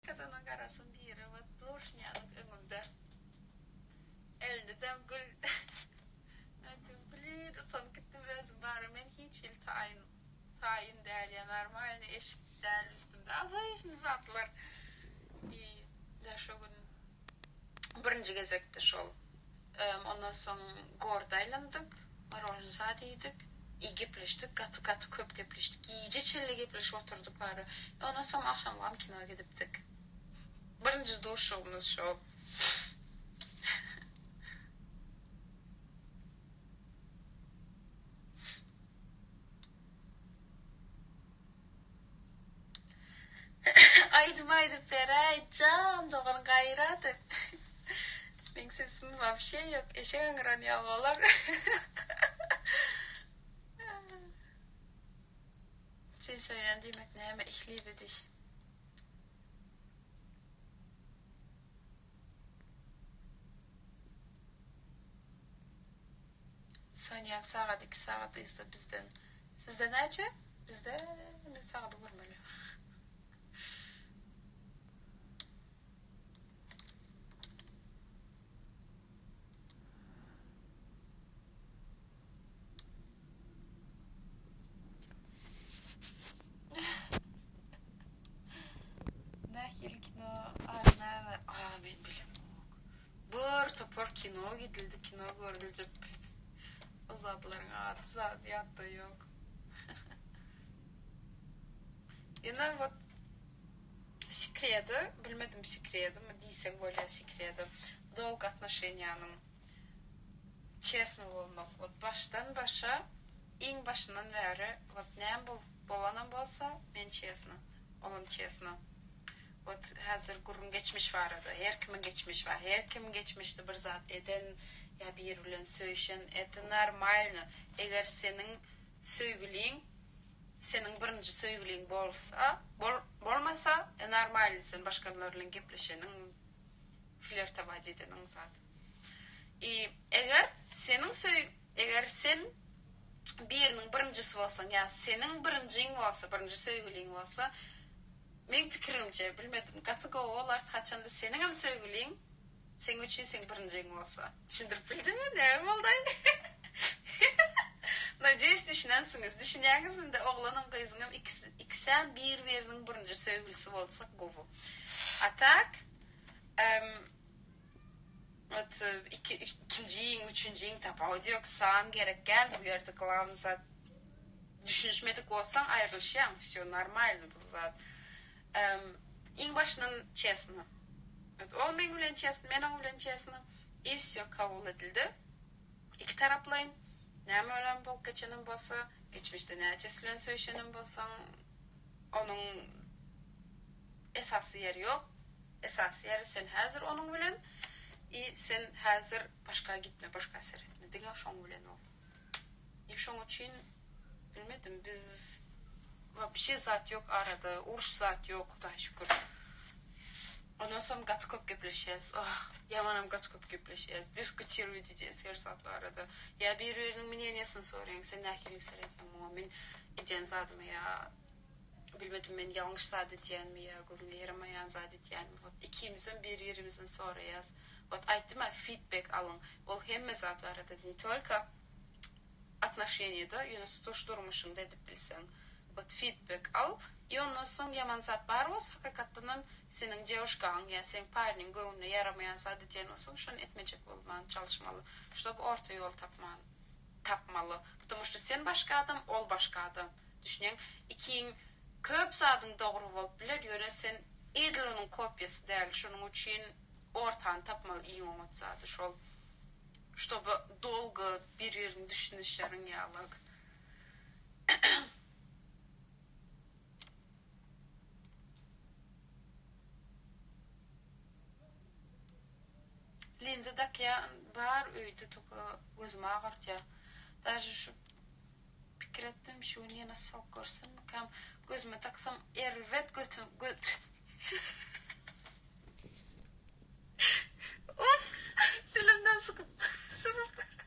Gyzynyň garasyn diýre we duşnýazyň öňünde elinde dem gül Men dem gülin utanyp gitdim özüm bara men hiç hili taýyn taýyn däl ýa normalny eşik däl üstümde abyýşny zatlar iý da şo gün Birinji gezekde şol. Ondan soň gorda aýlandyk, morožnsaat iýdik, i gepleşdik, gaty gaty köp gepleşdik. Gije çenli gepleşip oturdyk bary. Ondan soň agşamgam kino gidipdik. Birinji duşugymyz şol. Aýdym aýdyp beräý jan dogan gaýrat et Meň sesim wapşe ýok eşek aňyran ýaly bolar Seni söýýän diýmek näme ihli bidiş. Sönýän sagat iki sagat yzda bizden. Sizde näçe? Bizde men sagady görmeli. Nähili kino? Aa näme? Aa men bilemok. Bir topar kino gidildi kino görüljek ol zatlaryň ady zady ýatda ýok ýene wot sekredi bilmedim sekredimi diýseň bolýa sekredi dolg atnoşenýanyň çesno bolmak wot başdan başa iň başyndan bäri wot näme bolup bolanam bolsa men çesno olam çesno Ot häzir gürrüň geçmiş barada. Her kimiň geçmiş bar. Her kim geçmişde bir zat eden ýa biri bilen söýşen. Eta normalno. Eger seniň söýgüliň seniň birinji söýgüliň bolsa, bol bolmasa normalno sen başgalar bilen gepleşeniň, flertowaýt edeniň zat. I eger seniň söý eger sen biriniň birinjisi bolsaň ýa seniň birinjiň bolsa, birinji söýgüliň bolsa, Meň pikirimce bilmedim gaty gowy bolardy haçanda seniňem söýgüliň seň üçin seň birinjiň bolsa. Düşündirip bildimmi näme boldaý Nadýeýuş düşünensiňiz düşünýäňizmide oglanam gyzyňam ikisem bir biriniň birinji söýgülisi bolsa gowy a tak em. Iki ikinji iň üçünji iň tapawudy ýok san gerek däl bu ýerde glawny zat düşünişmedik bolsaň aýrylyşýaň wsýo normalny bu zat iň başyndan çesno ol meň bilen çesno men oň bilen çesno i wsýo kabul edildi iki taraplaýyn näme bilen bolup geçenem bolsa geçmişde näçesi bilen söýşenem bolsaň onuň esasy ýeri ýok. Esasy ýeri sen häzir onuň bilen i sen häzir başga gitme başga seretme diňe şoň bilen bol i şoň üçin bilmedim biz wapşe zat ýok arada uruş zat ýok hudaý şükür ondan soň gaty köp gepleşýäs oh ýamanam gaty köp gepleşýäs diskutiruýt edýäs her zat barada ýa bir biriniň mineniýasyny soraýaň sen nähili seredýäň muňa men edýän zadyma ýa Bilmedim men ýalňyş zat edýänmi ýa göwne ýaramaýan zat edýänmi wot ikimizem bir birimizden soraýas wot aýtdym a fidbek alyň ol hemme zat barada ne tolko atnoşeniýada ýöne tutuş durmuşyňda edip bilseň wot fidbek al i ondan soň ýaman zat bar bolsa hakykatdanam seniň dewuşkaň ýa seň parniň göwnüne ýaramaýan zat edýän bolsaň şony etmejek bolman çalyşmaly ştob orta ýol tapman. tapmaly ptomu şto sen başga adam ol başga adam düşneň ikiň köp zadyň dogry bolup biler ýöne sen edil onuň kopyasy däl şonuň üçin ortany tapmaly iň oňat zady şol ştoby dolgo bir birini düşünişeriň ýalyk. Linza dakýan bar öýde toka gözümi agyrtýar. Daže şu pikir etdim şu gün ýene sok görsemmikäm gözüme daksam erbet götüm göt Dilimden sykyp sypyp.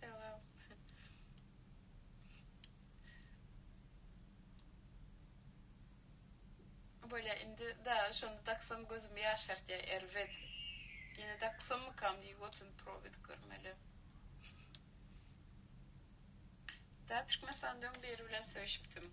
Salam. Bolýa indi da şony daksam gözüm ýaşartýa erbet. Ýene daksammykam diýip otyryn probit görmeli. Da Türkmenistanda öň biri bilen söýşipdim.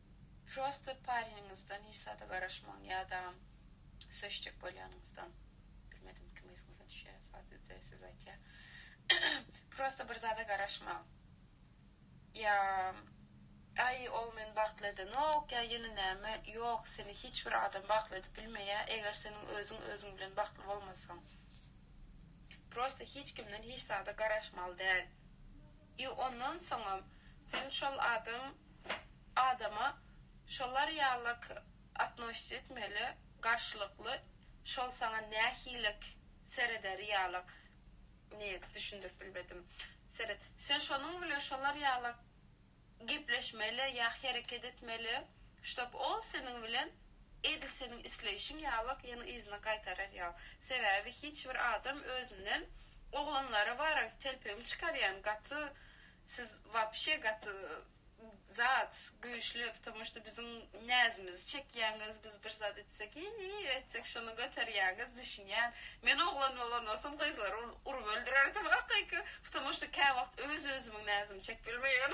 Prosta pareniňizden hiç zada garaşmaň ýadam söýüşjek bolýanyňyzdan bilmedim kim yzyňyza düşýär sadede söz aýtýar prosta bir zada garaşmaň ýa aý ol meni bagtly edenok ýa ýene näme ýok seni hiç bir adam bagtly edip bilmeýär eger seniň özüň özüň bilen bagtly bolmasaň prosta hiç kimden hiç zada garaşmaly däl. I ondan soňam sen şol adam adama şolar ýalak atnoşit etmeli garşylykly şol saňa nähilek serederi ýalak nýet düşündirip bilmedim seret sen şonuň bilen şolar ýalak gepleşmeli ýa hereket etmeli ştob ol seniň bilen Edil seniň isleýşiň ýalak ýene yzyna gaýtarar ýal. Sebäbi hiç bir adam özünden oglanlara baran telpegiň çykarýan gaty siz wapşe gaty zat güýçli ptomo şda biziň näzimizi çekýäňiz biz bir zat etsek iýi etsek şony göterýäňiz düşünýän men oglan bolan bolsam gyzlary urup öldürerdim hakyky ptomo şda käwagt öz özümiň näzimi çekip bilmeýän.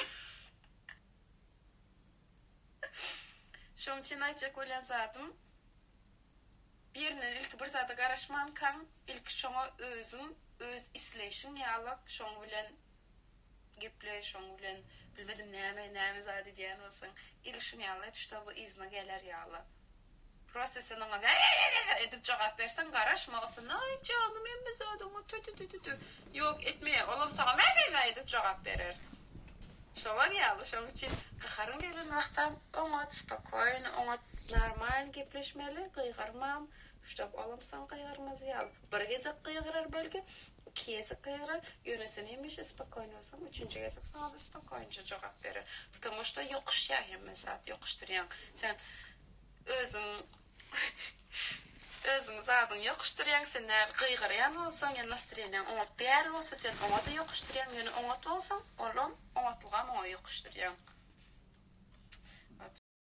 Şoň üçin aýtjak bolýan zadym, birinden ilki bir zada garaşmankaň, ilki şoňa özüň, öz isleýşiň ýalak, şoň bilen geple, şoň bilen bilmedim näme, näme zat edýän bolsaň, il şuň ýaly et, ştoby yzyna geler ýaly. Prosesiniňe wä-wä-wä-wä edip jogap berseň, garaşma, Ysynaý janym hemme zadyňa tü-tü-tü-tü-tü, ýok, etmeýär, olam saňa wä-wä-wä edip jogap berer. Şolar ýaly, şonuň üçin gaharyň gelen wagtam oňat, spokoýno oňat, normal gepleşmeli, gygyrmam, şdop olam saňa gygyrmaz ýaly. Bir gezek gygyrar belki, Iki gezek gygyrar, ýöne sen hemişe spokojnosyň, üçünji gezek saňa-da spokojnoja jogap berer. Ptomo što ýokuşýa hemme zat, ýokuşdyrýaň. Sen özüň özüň zadyňy ýokuşdyrýaň, sen näl gygyrýan bolsaň, ýa nastreniýaň oňat däl bolsa, sen oňa-da ýokuşdyrýaň, ýöne oňat bolsaň, olam oňatlygam oňa ýokuşdyrýaň.